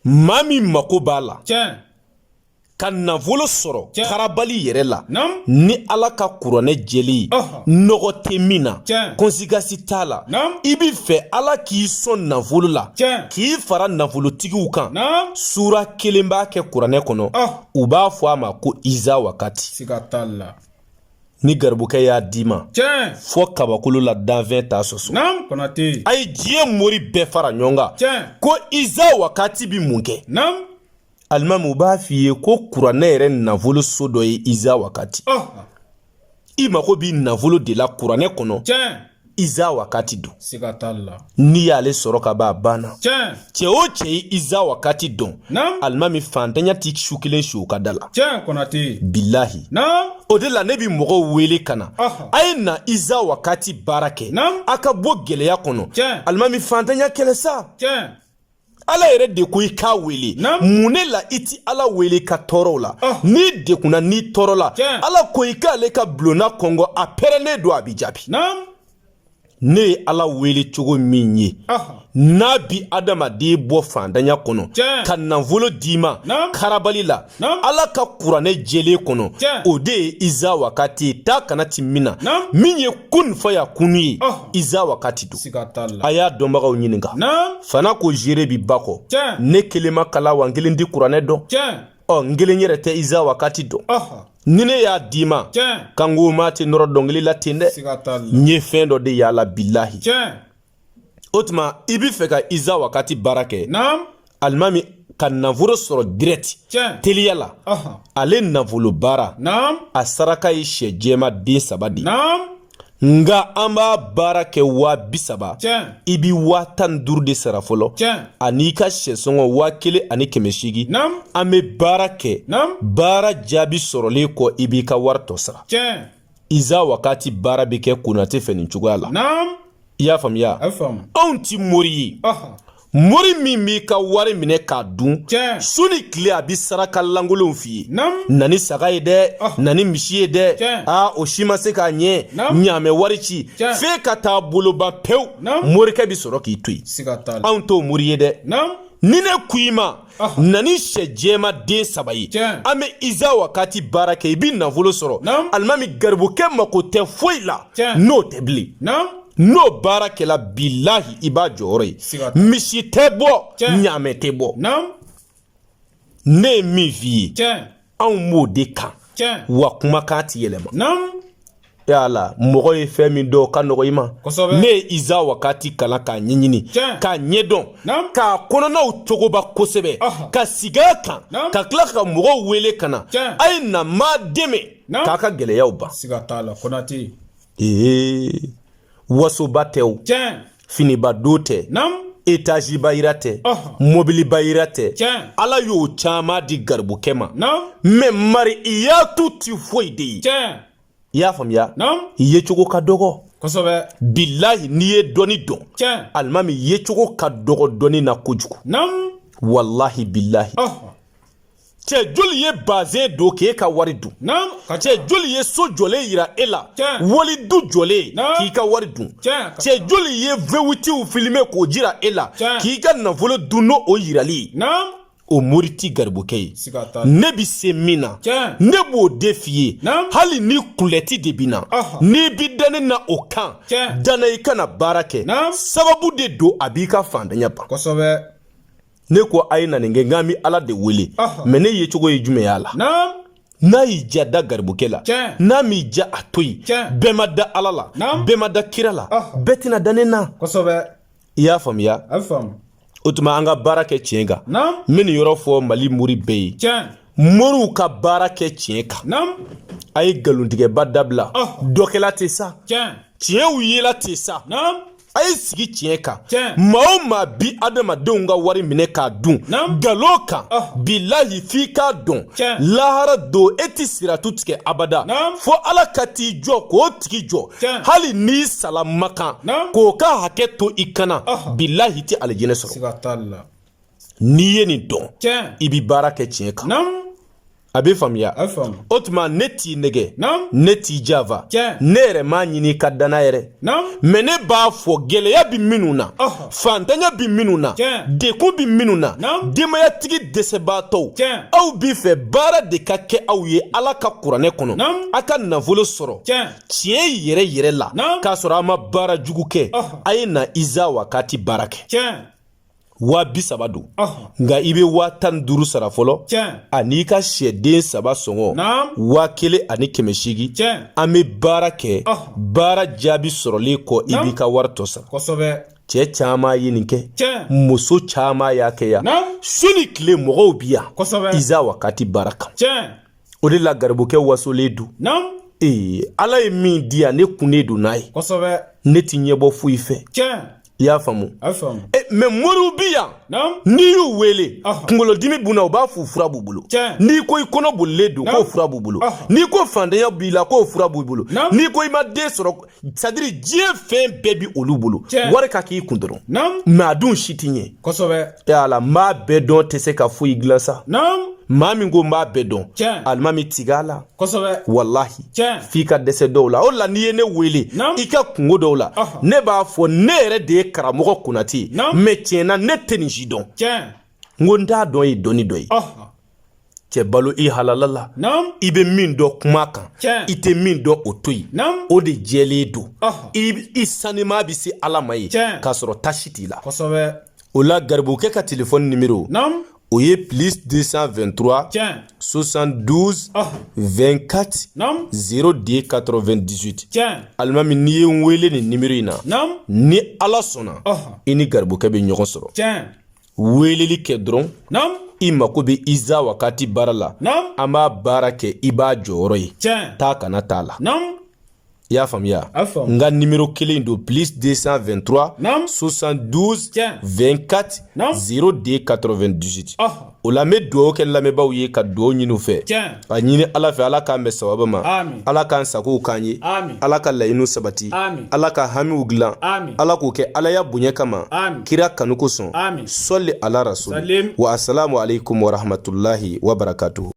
maa min mako b'a la ka nafolo sɔrɔ karabali yɛrɛ la ni ala ka kuranɛ jɛlen ye nɔgɔ tɛ min na konsigasi t'a la i b'a fɛ ala k'i sɔn nafolo la k'i fara nafolotigiw kan sura kelen b'a kɛ kuranɛ kɔnɔ u b'a fɔ a ma ko iza wakati ni garibukɛ y'a d'i ma fo kabakolo la danfɛn t'a sɔsɔ a ye diɲɛ mori bɛɛ fara ɲɔgɔn kan ko iza wakati bi mun kɛ alimamu u b'a f'i ye ko kuranɛ yɛrɛ nafolo so dɔ ye iza wakati i mago b'i nafolo de la kuranɛ kɔnɔ iza wakati don siga t'a la n'i y'ale sɔrɔ ka b'a banna tiɲɛ cɛ o cɛ ye iza wakati dɔn naam alimami fantanya ti su kelen si o ka da la tiɲɛ konate bilahi naam o de la ne bi mɔgɔw wele ka na a ye na iza wakati baara kɛ naam a ka bɔ gɛlɛya kɔnɔ tiɲɛ alimami fantanya kɛlɛ sa tiɲɛ ala yɛrɛ de ko i k'a wele mun ne la i ti ala wele ka tɔɔrɔw la ah. n'i degunna n'i tɔɔrɔla ala ko i k'ale ka bulonna kɔnkɔn a pɛrɛlen don a b'i jaabi ne ye ala wele cogo min ye ah. n'a bi adamaden bɔ fantanya kɔnɔ ka nafolo d'i ma karabali la ala ka kuranɛ jɛlen kɔnɔ o de ye iza wakati ye taa ka na ti min na min ye kun fayakunu ye iza wakati don a y'a dɔnbagaw ɲininka fana ko jere bi ba kɔ ne kelen ma kalan wa n kelen ti kuranɛ dɔn ɔ n kelen yɛrɛ tɛ iza wakati dɔn ni ne y'a d'i ma kan ko maa tɛ nɔrɔ dɔnkili la ten dɛ n ye fɛn dɔ de y'a la bilahi o tuma i b'a fɛ ka iza wakati baara kɛ alimami ka nafolo sɔrɔ dirɛti teliya la ale nafolo baara a saraka ye sɛ jɛma den saba de nka an b'a baara kɛ waa bi saba i bɛ waa tan ni duuru de sara fɔlɔ an'i ka sɛsɔngɔ waa kelen ani kɛmɛ seegin an bɛ baara kɛ baara jaabi sɔrɔlen kɔ i b'i ka wari tɔ sara iza wakati baara bɛ kɛ konate fɛ nin cogoya la i y'a faamuya anw ti mori ye mori min b'i ka wari minɛ k'a dun su ni tile a bi saraka lankolonw f'i ye na ni saga ye dɛ na ni misi ye dɛ aa o si ma se k'a ɲɛ ɲaamɛ wari ci f'e ka taa bolo ban pewu morikɛ bi sɔrɔ k'i to yen anw t'o mori ye dɛ ni ne ko i ma na ni sɛ jɛma den saba ye an bɛ iza wakati baara kɛ i bɛ nafolo sɔrɔ alimami garibukɛ mako tɛ foyi la n'o tɛ bilen n'o baara kɛla bilahi i b'a jɔyɔrɔ ye misi tɛ bɔ ɲaamɛ tɛ bɔ ne ye min f'i ye anw b'o de kan wa kumakan ti yɛlɛma yala mɔgɔ ye fɛn min dɔn ka nɔgɔ i ma ne ye iza wakati kalan k'a ɲɛɲini k'a ɲɛdɔn k'a kɔnɔnaw cogoba kosɛbɛ ka sigi a kan ka tila ka mɔgɔw wele ka na a ye na maa dɛmɛ k'a ka gɛlɛyaw ban ee wasoba tɛ o finiba don tɛ etaziba yira tɛ mobiliba yira tɛ ala y'o caman di garibukɛ ma mɛ mari i y'a to ti foyi de ye i y'a faamuya i yecogo ka dɔgɔ bilahi n'i ye dɔnni dɔn alimami yecogo ka dɔgɔ dɔnni na kojugu walahi bilahi cɛ joli ye bazɛn don k'e ka wari dun cɛ joli ye so jɔlen yira e la wali du jɔlen k'i ka wari dun cɛ joli ye vewitiw filime k'o jira e la k'i ka nafolo dun n'o o yirali o mori ti garibukɛ ye ne bɛ se min na ne b'o de f'i ye hali ni kulɛti de bɛ n na n'i bi da ne na o kan da n na i ka na baara kɛ sababu de don a b'i ka fantanya ban ne ko a ye na nin kɛ nka n bi ala de wele mɛ ne yecogo ye jumɛn y'a la n'a y'i ja da garibukɛ la n'a m'i ja a to yen bɛɛ ma da ala la bɛɛ ma da kira la bɛɛ tɛna da ne na i y'a faamuya o tuma an ka baara kɛ tiɲɛ kan n bɛ nin yɔrɔ fɔ mali mori bɛɛ ye moriw ka baara kɛ tiɲɛ kan a ye nkalontigɛba dabila dɔkɛla tɛ sa tiɲɛw yela tɛ sa a ye sigi tiɲɛ kan maa o maa bi adamadenw ka wari minɛ k'a dun nkalon kan ah. bilahi f'i k'a dɔn lahara don e tɛ siratu tigɛ abada fo ala ka t'i jɔ k'o tigi jɔ hali n'i sala makan k'o ka hakɛ to i kan na ah. bilahi i tɛ alijinɛ sɔrɔ n'i ye nin dɔn i bɛ baara kɛ tiɲɛ kan a bɛ faamuya o tuma ne t'i nɛgɛn ne t'i janfa ne yɛrɛ m'a ɲini ka da n na yɛrɛ mɛ ne b'a fɔ gɛlɛya bɛ minnu na fantanya bɛ minnu na degun bɛ minnu na denbayatigi dɛsɛbaatɔw aw b'a fɛ baara de ka kɛ aw ye ala ka kuranɛ kɔnɔ a ka nafolo sɔrɔ tiɲɛ yɛrɛ yɛrɛ la k'a sɔrɔ a ma baara jugu kɛ a ye na iza wakati baara kɛ waa bi saba don nka i bɛ waa tan ni duuru sara fɔlɔ ani i ka sɛden saba sɔngɔ waa kelen ani kɛmɛ seegin an bɛ baara kɛ baara jaabi sɔrɔlen kɔ i b'i ka wari tɔ sara cɛ caman ye nin kɛ muso caman y'a kɛ yan su ni tile mɔgɔw bi yan iza wakati baara kan o de la garibukɛ wasolen don ee ala ye min di yan ne kunnen don n'a ye ne ti ɲɛbɔ foyi fɛ i y'a faamu eh, mɛ moriw bi yan n'i y'u wele kunkolodimi b'u na u b'a f'o fura b'u bolo n'i ko i kɔnɔ bolilen don k'o fura b'u bolo n'i ko faantanya b'i la k'o fura b'u bolo n'i ko i ma den sɔrɔ sadiri diɲɛ fɛn bɛɛ bi olu bolo wari ka k'i kun dɔrɔn mɛ a dun si ti ɲɛ kosɛbɛ yala n b'a bɛɛ dɔn tɛ se ka foyi dilan sa maa min ko n b'a bɛɛ dɔn alimami tig'a la kosɛbɛ walahi f'i ka dɛsɛ dɔw la o la n'i ye ne wele i ka kunko dɔw la ne b'a fɔ ne yɛrɛ de ye karamɔgɔ konate ye mɛ tiɲɛ na ne tɛ nin si dɔn n ko n t'a dɔn ye dɔnni dɔ ye cɛ balo i halala la i bɛ min dɔn kuma kan i tɛ min dɔn o to yen o de jɛlen don i sanima bɛ se ala ma yen k'a sɔrɔ tasi t'i la o la garibukɛ ka telefɔni nimero o ye plus 223 72 24 02 98 alimami n'i ye n wele nin nimero in na ni ala sɔnna i ni garibukɛ bɛ ɲɔgɔn sɔrɔ weeleli kɛ dɔrɔn naam i mako bɛ iza wakati baara la naam an b'a baara kɛ i b'a jɔyɔrɔ ye tiɲɛ taa ka na t'a la naam i y'a faamuya n ka nimero kelen don plus 223 naam 72 tiɲɛ 24 naam 02 98 o la n bɛ dugawu kɛ lamɛnbaaw ye ka dugawu ɲini u fɛ tiɲɛ ka ɲini ala fɛ ala k'an bɛn sababu ma ala k'an sagow k'an ye ala ka laɲiniw sabati ala ka hamiw dilan ala k'o kɛ alaya bonya kama kira kanu kosɔn sɔli ala rasul wa asalamu alaikum warahmatulahi wabarakatuhu